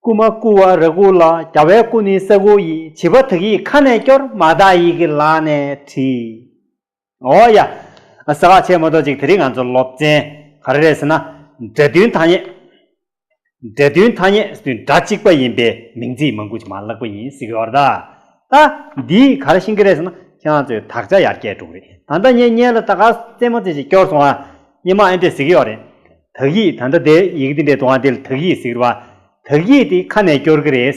སྐུ་མ་སྐུ་བ་རི་སྐུ་ལ་རྒྱ་བའི་སྐུ་ནི་ས་སྐུ་ཡིས་བྱིས་པ་དག་ཡིག་ཁ་ནས་སྐྱོར་མ་དག་ཡིག་གི་ལག་ནས་བྲིས། ཨོ་ཡ། ཟེར་བ་ཆེས་མོ་ཏོ་ཅིག་དེ་རིང་ང་ཚོ་སློབ་ཚན་ག་རེ་རེད་ཟེར་ན་སྒྲ་མཐུན་ཐ་སྙད། འབྲེལ་མཐུན་ཐ་སྙད་དུས་འདྲ་གཅིག་པ་ཡིན་པའི་མིང་ཚིག་མང་པོ་ཞིག་མ་བཀླགས་པ་ཡིན་གཟིགས་ཡོར་ད། ད། འདི་གར་ཤིང་ཀི་རེད་ཟེར་ན་ཁྱེད་རང་ཚོས་དག་ཆ་ཡར་སྐྱེད་འགྲོ་གི་རེད་ད་ད་ངས་བརྙན་ལ་ད་ག་རྩེད་མོ་རྩེ་བཞིན་སྐྱོར་སོང་ང་སྙན་མ་ཨེ་འདྲེས་གཟིགས་ཡོར་རེད། དག་ཡིག་ད་ད་དེ་ཡིག་འདི་འདྲེས་འདུག་ང་འདི་ལ་དག་ཡིག་གཟིགས་རོགས་ཨ། དག་ཡིག་འདི་ཁ་ནས་སྐྱོར་གི་རེད།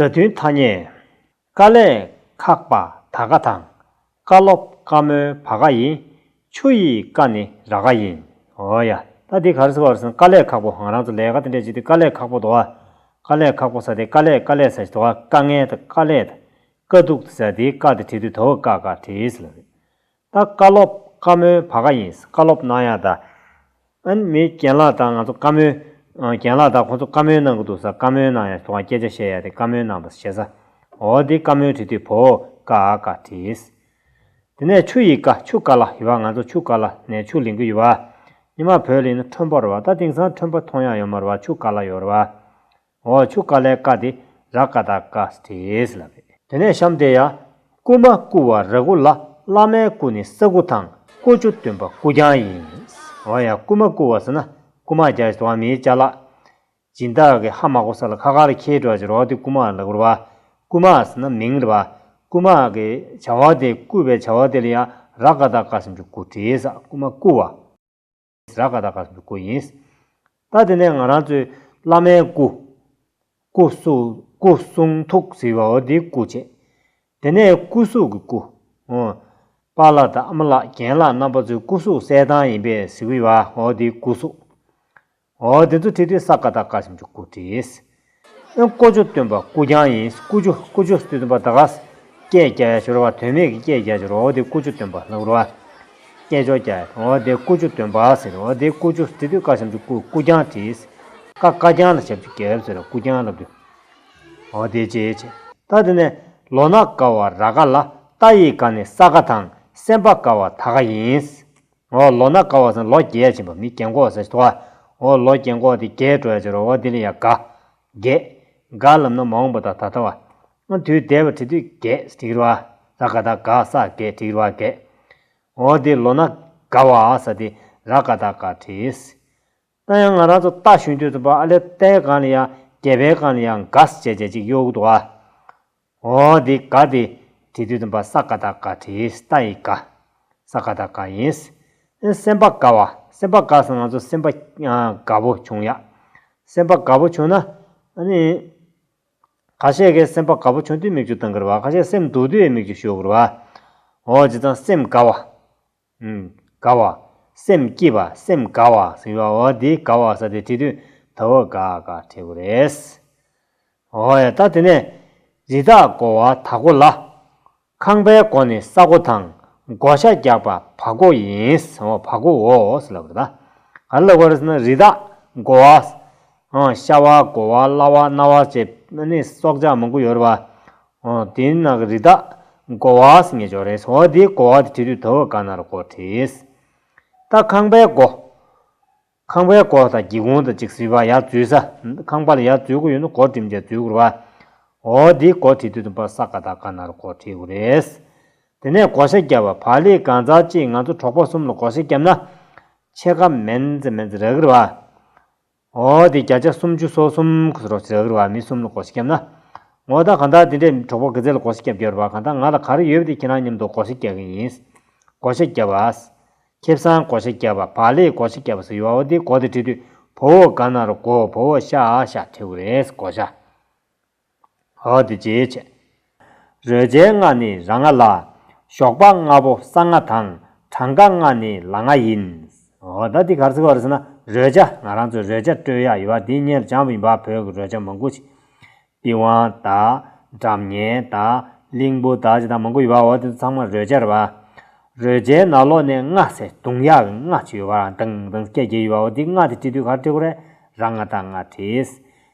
སྒྲ་མཐུན་ཐ་སྙད། དཀའ་ལས་ཁག་པ་ད་གའ་དང། དཀའ་སློབ་དཀའ་མོའི་བ་ག་ཡིན། ཆུ་ཡི་དཀའ་ནི་ར་ག་ཡིན། འོ་ཡ། ད་དེ་ག་རེ་ཟེར་བ་རེད་ཟེར་ན་དཀའ་ལས་ཁག་པོ་ཧང་རང་ཚོ་ལས་ཀ་དེ་འདྲས་བྱེད་དུས་དཀའ་ལས་ཁག་པོ་དོ་ཨ། དཀའ་ལས་ཁག་པོ་ཟ་དེ་དཀའ་ལས་དཀའ་ལས་ཟ་ཞེས་དོ་ཨ་དཀའ་ངལ་དང་དཀའ་ལས་དང་དཀའ་སྡུག་དེ་ཟ་དེའི་དཀའ་དེ་བྲིས་དུས་དོ་ཨ་དཀའ་དཀའ་བྲིས་ལ་རེད། ད་བཀའ་སློབ་བཀའ་མོལ་བ་ག་ཡིན་བཀའ་སློབ་གནང་ཡག་ད། ཨན་མི་རྒན་ལགས་ད་ང་ཚོ་བཀའ་མོལ། རྒན་ལགས་ད་ཁོང་ཚོ་བཀའ་མོལ་གནང་གི་འདུག་ས་བཀའ་མོལ་གནང་ཡག་ཁྱོད་རང་སྐད་ཆ་བཤད་ཡག་དེ་བཀའ་མོལ་གནང་ད་བཤད་ས། འོ་དེ་བཀའ་མོལ་བྲི་དུས་བོ་ཀ་ཨ་ཀ་བྲིས། དེ་ནས་ཆུ་ཡི་ཀ་ཆུ་ཀ་ལ་ཡི་བ་ང་ཚོ་ཆུ་ཀ་ལ་ནས་ཆུ་ལིང་གི་ཡི་བ། ཉི་མ་བོད་ལིང་ནི་ཁྲོན་པོར་བ་ད་དེང་སང་ཁྲོན་པོ་མཐོང་ཡག་ཡོ་མོར་བ་ཆུ་ཀ་ལ་ཡོར་བ། འོ་ཆུ་ཀ་ལའི་ཀ་དེ་ར་ཀ་ད་ཀ་སྟེས་ལ་རེད། དེ་ནས་བཤམས་ཏེ་ཡ། སྐུ་མ་སྐུ་བ་ར་སྐུ་ལ་བླ་མའི་སྐུ་ནི་ས་སྐུ་དང་ཀོ་ཆུ་སྟོན་པ་སྐུ་རྐྱང་ཡིན། འོ་ཡ་སྐུ་མ་སྐུ་བ་ཟེར་ན་སྐུ་མ་རྒྱ་བྱེད་དོ་བ་མིའི་ལྕགས་ལ། སྦྱིན་བདག་གི་ཧ་མ་གོ་ས་ལ་ཁ་ཁར་ཁྱེའི་སྒྲོ་བྱེད་རོགས་ཏེ་སྐུ་མ་ལ་བུར་བ། སྐུ་མ་ཟེར་ན་མིང་རེད་བ། སྐུ་མ་གི་བྱ་བ་དེ་སྐུ་བའི་བྱ་བ་དེ་ལ་ཡ་ར་ཀ་ད་ཀ་སེམས་ཆུ་སྐུ་དྲིས་ས་སྐུ་མ་སྐུ་བ། བཟའ་ཀ་དག་ག་སུ་ཀུ་སྐུ་ཡིན། ད་དེ་ནས་ང་རང་ཚོས་བླ་མའི་སྐུ། སྐུ། སྐུ་གསུང་ཐུགས་ཟེར་བའོ་དེའི་སྐུ་བྱས། དེ་ནས་སྐུ་གཟུགས་ཀྱི་སྐུ། ཨོ། པ་ལགས་དང་ཨ་མ་ལགས་རྒན་ལགས་རྣམ་པ་ཚོའི་སྐུ་གཟུགས་གསལ་ཐང་ཡིན་པས་ཟེར་བའོ་དེའི་སྐུ་གཟུགས། ཨོ་དེ་ཚོ་བྲིས་དུས་བཟའ་ཀ་དག་ག་སུ་ཀུ་བྲིས། ཨོན་ཀོ་ཅོ་སྟོན་པ་ཀུ་ཀྱང་ཡིན་ཀུ་ཅོ་ཀུ་ཅོ་སྟོན་པ་ད་གཟ། སྐད་རྒྱ་ཡ་ཞོར་བ་དོན་མེད་ཀྱི་སྐད་རྒྱ་ཞོར་འོ་དེ་ཀུ་ཅོ་སྟོན་པ་ལྷ་བུར་བ། སྐད་ཅོར་རྒྱ་ཡ་འོ་དེ་ཀུ་ཅོ་སྟོན་པ་ཟེར་འོ་དེ་ཀུ་ཅོ་བྲི་དུས་བཀའ་གཤམ་གྱི་ཀུ་ཀུ་རྐྱང་བྲིས། ཀ་ཀ་རྐྱང་ལ་ཞབས་ཀྱི་གལ་ཟེར་བ་ཀུ་རྐྱང་ལབ་དུས། འོ་དེ་ཅེ་ཅེ། ད་དེ་ནས་ལོ་ན་ཀ་བ་ར་ཀ་ལ་རྟ་ཡི་ཀ་ནི་ས་ཀ་དང་སེམས་དཔའ་ཀ་བ་ད་ཀ་ཡིན། འོ་ལོ་ན་ཀ་བ་སན་ལོ་རྒྱལ་བྱིན་པ་མི་རྒྱན་གོ་སེ་ཏོ་ཨ། འོ་ལོ་རྒྱན་གོ་ཏི་རྒྱལ་སྤྲོ་ཡ་ཅི་རོ་ཨོ་དི་ལི་ཡ་ག། རྒྱས། ག་ལམ་ན་མ་འོངས་པ་ད་ད་ད་བ། ཨོ་དུས་འདས་པ་དྲི་དུས་རྒྱས་སི་ཏི་རོ་ཨ། ད་ག་ད་ག་ས་གས་དྲི་ཡུ་ར་གས། འོ་དི་ལོ་ན་ཀ་བ་ཨ་ས་ཏི་ར་ག་ད་ག་དྲི་སི། ད་ཡང་ང་རང་ཚོ་ལྟ་ཞུན་དུས་སུ་པ་ཨ་ལེ་ཏའི་སྒང་ལ་ཡང་རྒྱལ་པའི་སྒང་ལ་ཡང་འགའ་ཟེ་བྱས་བྱས་ཅིག་གཡོ་གུ་འདུག་ཨ། ཨོ་འདི་ག་འདི་དེ་དུས་སུ་པ་ས་ག་ད་ག་དྲིས་ཏཱ་ཡི་ག། ས་ག་ད་ག་ཡིན། ཨེ་སེམས་པ་དགའ་བ་སེམས་པ་དགའ་སང་ང་ཚོ་སེམས་པ་དགའ་བོ་བྱུང་ཡ། སེམས་པ་དགའ་བོ་བྱུང་ན་ནི། ག་ཤེད་ཀའི་སེམས་པ་དགའ་བོ་བྱུང་དུས་མིག་ཆུ་བཏང་གི་རུ་བ་ག་ཤེད་སེམས་སྡུག་དུས་མིག་ཆུ་ཞུ་གི་རུ་བ། ཨོ་ཇི་ཙང་སེམས་དགའ་བ། དགའ་བ། སེམས་སྐྱིད་པ་སེམས་དགའ་བ་ཟེར་བ་འོ་དེའི་དགའ་བ་ས་དེ་བྲིས་དུས་ད་འོ་དགའ་དགའ་བྲིས་དགོས་རེད། འོ་ཡ་ད་དེ་ནས་རི་དྭགས་སྒོ་བ་ད་སྒོ་ལ། ཁང་པའི་སྒོ་ནི་ས་སྒོ་དང་སྒོ་ཤ་རྒྱག་པ་བ་སྒོ་ཡིན་འོ་བ་སྒོ་འོ་ཟེར་ལབ་རེད། ག་རེ་ལབ་དགོས་རེད་ཟེར་ན་རི་དྭགས་སྒོ་བ། ཤ་བ་སྒོ་བ་གླ་བ་སྣ་བ་བཅས་ནི་སྲོག་ཆགས་མང་པོ་ཡོད་རེད་བ། དེ་ནི་ནག་རིལ་དག་གོ་བ་སེ་ངེ་འཇོག་རེས་འོ་དེའི་གོ་བ་དེ་དྲི་དུས་དོ་བོ་ག་ན་ར་གོ་དྲིས། རྟ་ཁང་པའི་སྒོ། ཁང་པའི་སྒོ་དང་སྒྱིད་གོང་དང་ཅིག་སི་བ་ཡར་འཛུལ་ས། ཁང་པ་ལ་ཡར་འཛུལ་གོ་ཡོད་ན་གོ་དྲིམ་བཅས་འཛུལ་གོ་ར་བ། འོ་དེའི་གོ་དྲི་དུས་དུམ་པ་ས་ག་དག་ག་ན་ར་གོ་དྲི་གོ་རེས། དེ་ནས་གོ་ཤ་བརྒྱབ་བ་བག་ལེ་གང་ཚར་གཅིག་ང་ཚོ་གྲོགས་པོ་གསུམ་ལ་གོ་ཤ་བརྒྱབ་ན། ཕྱེད་ཀ་མེན་ཛེ་མེན་ཛེ་ར་གི་ར་བ། ངོ་བོ་དེ་བརྒྱ་ཆ་སུམ་ཅུ་སོ་གསུམ་གྱི་རོ་ཟེར་བ་མི་གསུམ་ལ་གོ་ཤེས་ཁྱབ་ན། ངོ་བོ་ད་གང་དག་དེ་འདྲའི་གྲོགས་པོ་དགེ་རྩེ་ལ་གོ་ཤེས་ཁྱབ་རྒྱབ་པ་གང་དག་ང་ལ་ག་རེ་ཡོད་དེ་ཁྱེད་རང་མཉམ་དུ་གོ་ཤེས་རྒྱག་གིན་ཡིན། གོ་ཤེས་རྒྱབ་པ། ཁེབ་བཟང་གོ་ཤེས་རྒྱབ་པ་བག་ལེ་གོ་ཤེས་རྒྱབ་པ་སོགས་ཡོའོ་དེ་གོ་དེ་བྲིས་དུས་བོ་བོ་ག་ན་རོ་གོ་བོ་བོ་ཤ་ཨ་ཤ་ཁྲེའུ་རེས་གོ་ཤ། འོག་ཏུ་འཇལ་བྱེད། རོལ་རྩའི་སྔགས་ནི་ར་ལྔ་ལ། ཞོགས་པ་ལྔ་པོ་ས་ལྔ་དང། གྲངས་ཀ་ལྔ་ནི་ལ་ལྔ་ཡིན། འོ་ད་འདི་གར་ཚིག་བར་ཟིན་ན་རོལ་བྱ་ང་རང་ཚོས་རོལ་བྱ་སྤྲོད་ཡག་ཡོད་བ་འདི་གཉེར་བྱང་བིན་བ་བོད་ཀྱི་རོལ་བྱ་མང་པོ་ཅིག་པི་ཝང་དང། འགྲམ་ངན་དང། གླིང་བུ་དང་ཅི་དང་མང་པོ་ཡོད་བ་འོ་དེ་ཚོ་ཚང་མ་རོལ་བྱ་རེད་བ། རོལ་བྱའི་ནང་ལོགས་ནས་སྔགས་ཚེ་གདུང་ཡག་གི་སྔགས་ཅིག་ཡོད་བ་རང་དང་དང་སྐད་བརྒྱད་ཡོད་བ་འོ་འདི་སྔགས་དེ་བྲི་དུས་གར་བྲི་དགོས་རེད་ར་ལྔ་དང་ལྔ་བྲིས།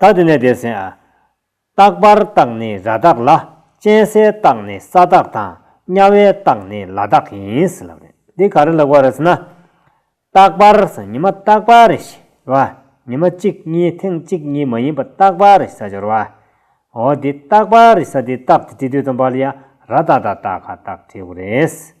རྟགས་འདི་ནས་འདས་ཟིན་ཨ། རྟག་པར་རྟགས་ནི་ར་རྟགས་ལ། གཅན་སའི་རྟགས་ནི་ས་རྟགས་དང། དམྱལ་བའི་རྟགས་ནི་ལ་རྟགས་ཡིན། འདི་ག་རེ་ལེགས་པ་རེད་ཟེར་ན། རྟག་པར་ཟེར་ནི་མ་རྟག་པ་རེད་ཞེས་བ། ནི་མ་གཅིག་གཉིས་ཐེངས་གཅིག་གཉིས་མ་ཡིན་པར་རྟག་པ་རེད་ས་སྦྱོར་བ། འོ་འདི་རྟག་པ་རེད་ས་འདི་རྟགས་དེ་དྲི་དུས་དང་པར་ཡང་ར་རྟགས་དང་རྟགས་ཁ་རྟགས་དྲི་བ་རེད།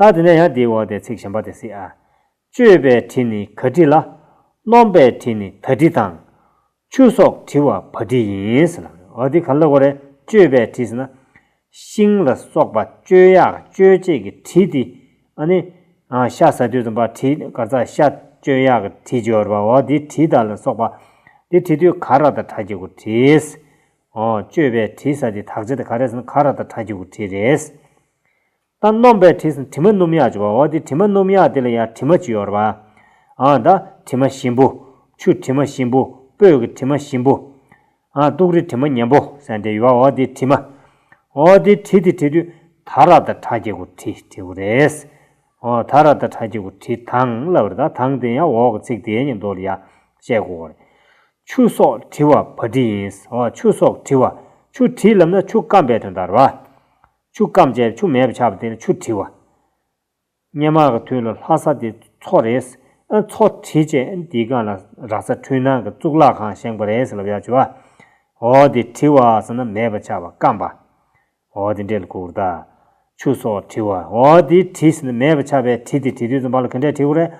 ལྟར་དེ་ནས་ཡང་དེའི་འོག་དེ་ཚིག་གཞན་པ་དེ་སྲིད་ཨ། བཅོས་པའི་དྲི་ནི་ག་དྲི་ལ། སྣོམ་པའི་དྲི་ནི་ད་དྲི་དང། ཆུ་སོགས་དྲི་བ་བ་དྲི་ཡིན། འོ་དེ་ག་ལ་གོ་རེ་བཅོས་པའི་དྲི་ཟེར་ན། ཤིང་ལ་སོགས་པ་བཅོས་ཡག་བཅོས་བྱེད་ཀྱི་དྲི་དེ་ཨ་ནི། ཤ་ཟ་དུས་སུ་འབའ་དྲི་གར་རྩ་ཤ་བཅོས་ཡག་གི་དྲི་སྦྱོར་བ་འོ་དེ་དྲི་དང་ལ་སོགས་པ། དེ་དྲི་དུས་ག་ར་དང་གྲ་སྐྱེ་གུ་དྲི། འོ་བཅོས་པའི་དྲི་ཟ་དེ་དག་བྱེད་དེ་ག་རེ་ཟེར་ན་ག་ར་དང་གྲ་སྐྱེ་གུ་དྲི་རེད། ད་སྣོམ་པའི་དྲི་ཟིན་དྲི་མ་སྣུམ་ཡག་ཅེས་པ་འོ་དེ་དྲི་མ་སྣུམ་ཡག་དེ་ལ་ཡང་དྲི་མ་བཅུ་ཡོད་རེད་པ། ཨང་ད་དྲི་མ་ཞིམ་པོ། ཆུ་དྲི་མ་ཞིམ་པོ། སྤོས་ཀྱི་དྲི་མ་ཞིམ་པོ། ཨང་ལྟུག་རི་དྲི་མ་ཉན་པོ་སན་དེ་ཡོད་པ་འོ་དེ་དྲི་མ། འོ་དེ་དྲི་དེ་དྲི་དུས་ད་ར་ད་ཁྲ་སྐྱེ་དགུ་དྲི་དྲི་དགུ་རེད། འོ་ད་ར་ད་ཁྲ་སྐྱེ་དགུ་དྲི་དང་ལབ་རེད་ད་དང་དེ་ཡང་འོག་གི་ཚིག་དེའི་ཉིན་ཐོ་ལ་ཡག་བཤད་དགོས་གོ་རེད། ཆུ་སོགས་དྲི་བ་བ་དྲི་ཡིན། འོ་ཆུ་སོགས་དྲི་བ། ཆུ་དྲི་ལབ་ན་ཆུ་སྐམ་པའི་དོན་དང་རེད་པ། ཆུ་སྐམ་བཅས་ཆུ་མེད་པར་ཆགས་པ་དེ་ནི་ཆུ་བྲི་བ། སྙེ་མ་གི་དུས་ལ་ལྷག་ས་དེ་མཚོ་རེད། མཚོ་བྲི་བཅས་འདིའི་སྒང་ལ་རག་ས་འཕྲུལ་སྣང་གི་གཙུག་ལག་ཁང་བཞེངས་པ་རེད་ལབ་ཡག་བྱོས། འོ་དེ་བྲི་བ་ཟེར་ན་མེད་པར་ཆགས་པ་སྐམ་པ། འོ་དེ་འདྲེ་ལ་གུག་རྟ། ཆུ་སོགས་བྲི་བ། འོ་དེ་བྲི་ཟེར་ན་མེད་པར་ཆགས་པས་བྲི་དེ་བྲི་དུས་སུ་འབར་ལ་གི་འདྲེ་བྲི་གུག་རེད།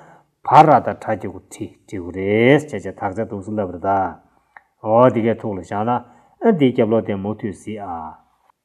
བར་ར་དང་བྲ་གི་གུག་བྲི་བྲི་གུག་རེད་བྱས་བྱས་དག་བྱ་དུག་སུ་ལབ་རེད་ད། འོ་དེ་གས་ཐུག་ལ་བཞག་ན་འདིའི་རྒྱབ་ལོག་དེ་མུ་མཐུད་བཟི་ཨ།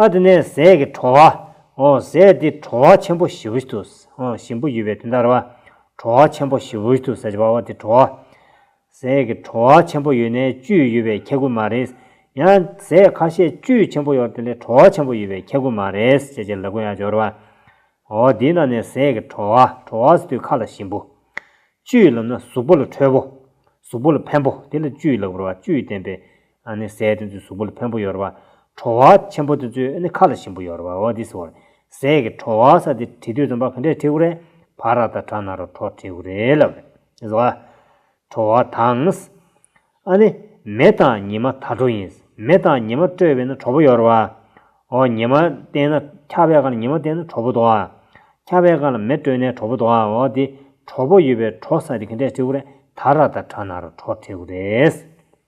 ཨ་དེ་ནས་ཟས་ཀྱི་གྲོང་བ། ཟས་འདི་གྲོང་བ་ཆེན་པོ་བཞི་བོ་ཞིག་ཏུ། ཞིམ་པོ་ཡོད་པའི་དུས་མཐར་བ། གྲོང་བ་ཆེན་པོ་བཞི་བོ་ཞིག་ཏུ་ཟས་ཀྱི་བ་བ་དེ་གྲོང་བ། ཟས་ཀྱི་གྲོང་བ་ཆེན་པོ་ཡོད་ནས་བཅུད་ཡོད་པའི་ཁྱད་ཀུན་མ་རེད། ཡང་ཟས་ཁ་ཤས་བཅུད་ཆེན་པོ་ཡོད་དེ་ལས་གྲོང་བ་ཆེན་པོ་ཡོད་པའི་ཁྱད་ཀུན་མ་རེད་ཅེས་བྱའི་ལ་ཀུན་ཡང་སྦྱོར་བ། དེའི་ནང་ནས་ཟས་ཀྱི་གྲོང་བ། གྲོང་བ་ཟ་དུས་ཁ་ལ་ཞིམ་པོ། བཅུད་ལམ་ན་གཟུགས་པོ་ལ་ཁྲོས་པོ། གཟུགས་པོ་ལ་ཕན་པོ་དེ་ལ་བཅུད་ལེགས་པོར་བ་བཅུད་བརྟན་པའི་ཨ་ནི་ཟས་དེ་ཚོའི་གཟུགས་པོ་ལ་བོན་པོ་ཡོར་བ། ཁྲོ་བ་ཆེན་པོ་དེ་ཚོའི་ཨ་ནི་ཁ་ལ་ཞིམ་པོ་ཡོར་བའོ་འདི་སོ། ཟས་ཀྱི་ཁྲོ་བ་ས་དེ་དྲི་དུས་དུམ་པ་ག་འདྲས་ཁྲེ་ཁུ་རེ། བ་ར་ད་བྲ་ན་རོ་ཁྲོ་ཁྲེ་ཁུ་རེ་ལ། བ། ཁྲོ་བ་དང། ཨ་ནི་མེ་དང་ཉི་མ་ད་ཁྲོ་ཡིན། མེ་དང་ཉི་མ་སྤྲོས་པས་ན་ཁྲོ་བོ་ཡོར་བ། འོ་ཉི་མ་བསྟེན་ན་ཁ་བའི་ཁ་ལ་ཉི་མ་བསྟེན་ན་ཁྲོ་བོ་དོ། ཁ་བའི་ཁ་ལ་མེ་སྤྲོས་ནས་ཁྲོ་བོ་དོ་འོ་འདི་ཁྲོ་བོ་ཡོད་པའི་ཁྲོ་ས་དེ་ག་འདྲས་ཁྲེ་ཁུ་རེ་ད་ར་ད་བྲ་ན་རོ་ཁྲོ་ཁྲེ་ཁུ་རེ།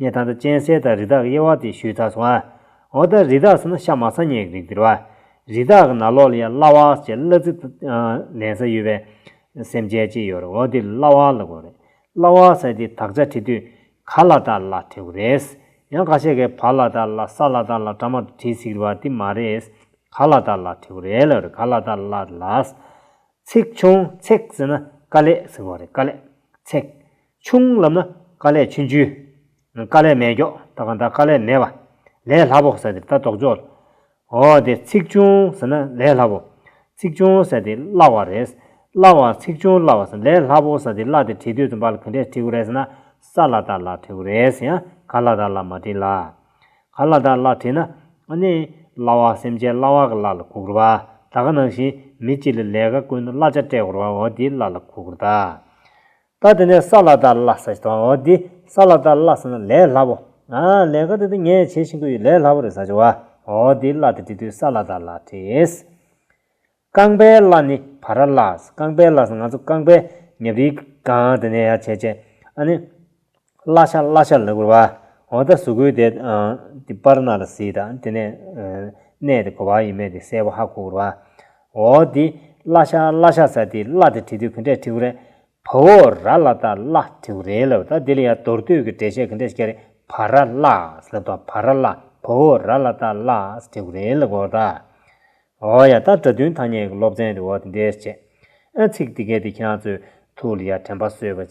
ནས་དང་དང་གཅན་གཟན་དང་རི་དྭགས་ཀྱི་དབྱེ་བ་དེ་ཞུས་ད་སོང་ཨ། འོ་ད་རི་དྭགས་ཟེར་ན་ཤ་མ་ཚ་ཉེ་གི་རིགས་དེར་བ། རི་དྭགས་ཀྱི་ནག་ལོག་ལ་ཡང་གླ་བ་ཞེས་གླ་རྩི་ལེན་ས་ཡོད་པས། སེམས་ཅན་ཅིག་ཡོད་རེད་འོ་དེ་གླ་བ་ལ་གོ་རེད། གླ་བ་ཟེར་དེ་དག་ཆ་བྲི་དུས་ག་ལ་དག་ལ་བྲི་དགོས་རེད། ཡང་ག་ཤེད་ཀྱི་བ་ལ་དག་ལ་ས་ལ་དག་ལ་བྲ་མ་དུ་བྲིས་ཟིག་རེད་བ་དེ་མ་རེད། ག་ལ་དག་ལ་བྲི་དགོས་རེད་ལ་རེད་ག་ལ་དག་ལ་ལ། ཚེགས་ཆུང་ཚེགས་ཟེར་ན་དཀའ་ལས་ཟེར་བ་རེད་དཀའ་ལས་ཚེགས། ཆུང་བསླབ་ན་དཀའ་ལས་ཆུང་ཆུང། དཀའ་ལས་མེད་མགྱོགས་ད་གང་ལྟར་དཀའ་ལས་མེད་པ། ལས་སླ་པོ་ཟེར་ཏེ་ལྟ་རྟོག་འཇོག། འོ་དེ་ཚིག་ཆུང་ཟེར་ན་ལས་སླ་པོ། ཚིག་ཆུང་ཟེར་ཏེ་སླ་བ་རེད། སླ་བ་ཚིག་ཆུང་སླ་བ་ཟེར་ལས་སླ་པོ་ཟེར་ཏེ་སླ་དེ་བྲིས་དུས་སུ་འབའ་ལ་ག་འདྲས་བྲིས་གོ་རེད་ཟེར་ན་ས་སླ་དར་སླ་བྲིས་གོ་རེད་ཟེར་ཡང་ག་སླ་དར་སླ་མ་བྲིས་ལ། ག་སླ་དར་སླ་བྲིས་ན་ཨ་ནི་སླ་བ་སེམས་ཅན་སླ་བ་ག་སླ་ལ་གུག་རོ་བ་ད་ག་ནང་བཞིན་མི་གཅིག་ལ་ལས་ཀ་ཀུན་སླ་ཆ་སྤྲད་གོ་རོ་བ་འོ་དེའི་སླ་ལ་གུག་རོ་ད། ད་དེ་ནས་ས་ལ་དར་བླ་ས་ཆུ་དང་འོ་དེ་ས་ལ་དར་བླ་ས་ན་ལས་སླ་པོ་ལས་ཀ་དེ་དུ་ངས་བྱེད་བཞིན་གི་ཡོད་ལས་སླ་པོ་རེད་ས་ཆུ་བ་འོ་དེའི་བླ་དེ་དེ་དུས་ས་ལ་དར་བླ་བྲིས། རྐང་པའི་བླ་ནི་བ་ར་བླ་རྐང་པའི་བླ་ས་ང་ཚོ་རྐང་པའི་ཉབ་རིའི་སྒང་དེ་ནས་ཡར་བྱས་བྱས་ཨ་ནི། བརླ་ཤ་བརླ་ཤ་ལ་བུར་བ། འོ་ད་གཟུགས་སྐུའི་དེ་དེ་སྤར་ན་ལ་སྲིད་དང་དེ་ནས་གནས་དེ་གོ་བ་ཡི་མེ་དེ་སེར་བོ་ཧ་གོ་བུར་བ། འོ་དེ་བརླ་ཤ་བརླ་ཤ་ས་དེ་བརླ་དེ་དྲི་དུས་གི་འདྲས་ཐིའུ་རེ། བ་འོ་ར་ལ་ད་བརླ་ཐིའུ་རེ་ལ་བུ་ད་དེ་ལ་ཡ་དོར་དུས་གི་འདྲས་བྱས་གི་འདྲས་ཤ་རེ་བ་ར་བརླ་ས་ལ་བ་བ་ར་བརླ་བ་འོ་ར་ལ་ད་བརླ་ས་ཐིའུ་རེ་ལ་གོ་ད། འོ་ཡ་ད་སྒྲ་མཐུན་ཐ་སྙད་གི་སློབ་ཚན་དེ་འོ་དེ་འདྲས་བྱས། ཨ་ཚིག་དེ་གས་དེ་ཁྱེད་རང་ཚོས་ཐུགས་ལ་ཡ་དྲན་པ་གསོས་པ་བྱས།